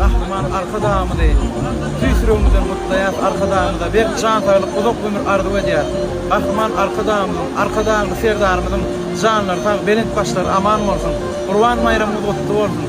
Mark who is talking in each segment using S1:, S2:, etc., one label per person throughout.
S1: Gahryman Arkadagymyzy tüýs ýüregimizden gutlaýas, Arkadagymyza berk jan saglyk, uzak ömür arzuw edýäs. Gahryman Arkadagymyzyň, Arkadagly Serdarymyzyň janlary sag, belent başlary aman bolsun! Gurban baýramyňyz gutly bolsun!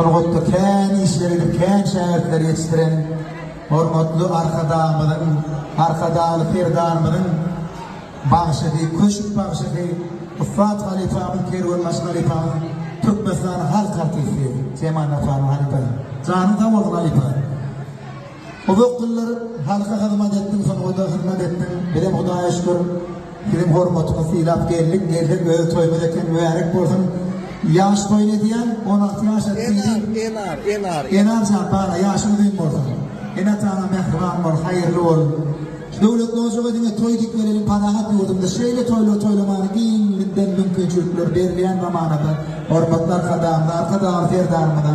S1: Sungatda kän işler edip, kän şägirtler ýetişdiren hormatly Arkadagymyzyň, Arkadagly Serdarymyzyň bagşysy, köşk bagşysy, ussat halypamyz, kerwenbaşy halypamyz, Türkmenistanyň halk artisti Jemal Nasarow halypa. Janyň sag bolsun halypa. Uzak ýyllar halka hyzmat etdiň sunguda hyzmat etdiň bizem hudaýa şükür siziň hormatyňyz sylap geldik gelsek öz toýumyz eken mübärek bolsun ýaş toýun edýän on alty ýaş etdiýdi Enar Enar Enar jan bala ýaşyň uzyn bolsun ene atana mähriban bol haýyrly bol Döwlet nojaga diňe toý dikmeleriň parahat ýurdumda şeýle toýlar toýlamany giňden mümkinçilikler berilýän zamanada hormatly arkadagymyza arkadagly serdarymyza